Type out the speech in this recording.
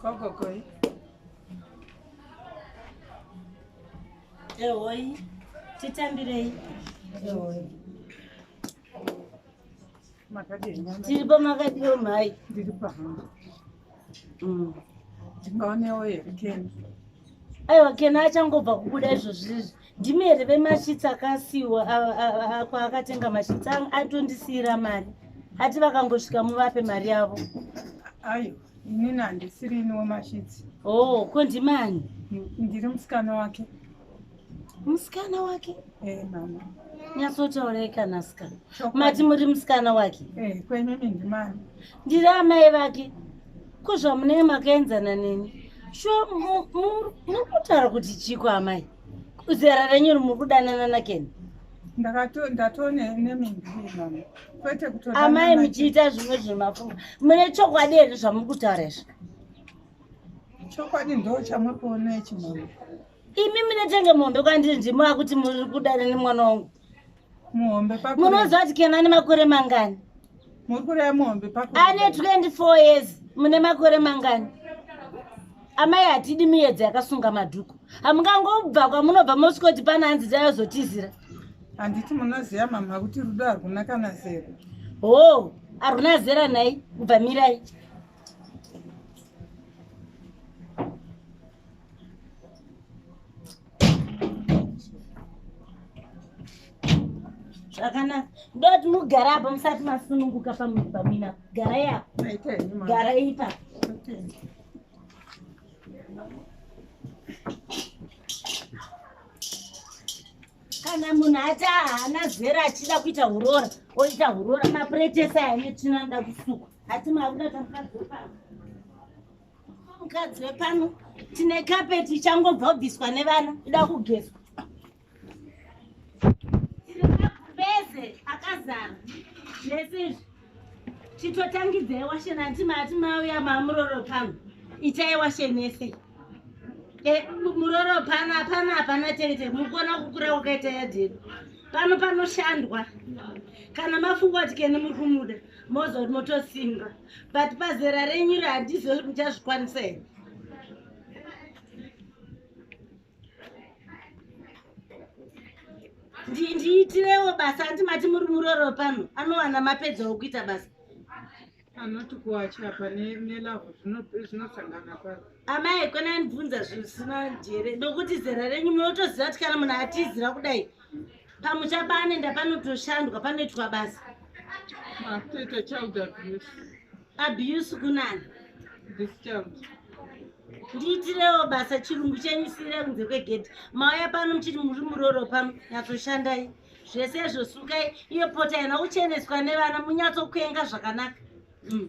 kokokoi ehoi titambirei ehoi tiripo makadiwo mhai ndiri pahamba mm. ndingaonewo here kena aiwa kena achangobva kubuda izvozvizvi ndimi here vemashitsi akasiwa kwaakatenga mashitsi anga atondisiira mari ati vakangosvika muvape mari yavo ayo inini handisiri ini wemashitsi o oh, ko ndimani ndiri musikana wake musikana wake e eh, mama nyatsotaurei kana sikana mati muri musikana wake e eh, kwenyimi ndimani ndiri amai vake ko zvamunee makaenzana neni shuwa muri kutaura kuti chiko amai zera renyu ri muri kudanana nakeni amai muchiita zvimwe zvemafunga mune chokwadi here zvamuri kutaura izvi chokwadi ndo chamuri kuona ichi mama imi munetenge mombe kwandiri ndimo akuti muri kudana nemwana wangu muhombe pakure munoziva kuti kema ane makore mangani muri kureva muhombe pakure ane 24 years mune makore mangani amai hatidi miyedzo yakasunga madhuku hamungangobva kwamunobva mosikoti pana hanzi dzayozotizira handiti munoziva mama kuti rudo harwuna kana zero hoo harwuna zera nhai kubva mirai zvakanaka ndoti mugara apa musati masununguka pamina garai apa garai ipa kana munhu ati haana zera achida kuita urora oita urora mapuretesa ane tsvina anoda kusuka ati makuda tamukadzi wepaa mukadzi wepano tine kapeti ichangobva kubviswa nevana ida kugezwa pese akazara zvese izvi chitotangidzai washe nati mati mauya mamuroro pano itai washe nese e, muroro pano apana hapana tete mukuona kukura kwakaita yadhedu pano panoshandwa kana mafunga kuti kene muri kumuda mozoti motosimba but pazera renyu iri handizive kuti muchazvikwanisa here ndiitirewo basa ati mati muri muroro pano anowana mapedzawo kuita basa anoti kuachapa nelavo zvinosangana paro amai kona ndibvunza zvisina njere nokuti zera renyu munotoziva kuti kana munhu atiziva kudai pamusha pane ndapanotoshandwa panoitwa basa toita child abuse abuse kunani this child ndiitirewo basa chirungu chenyu siire kunze kwegedhi mauya pano muchiti muri muroro pano nyatsoshandai zvese izvo sukai iyo pota yana kucheneswa nevana munyatsokuenga zvakanaka mm.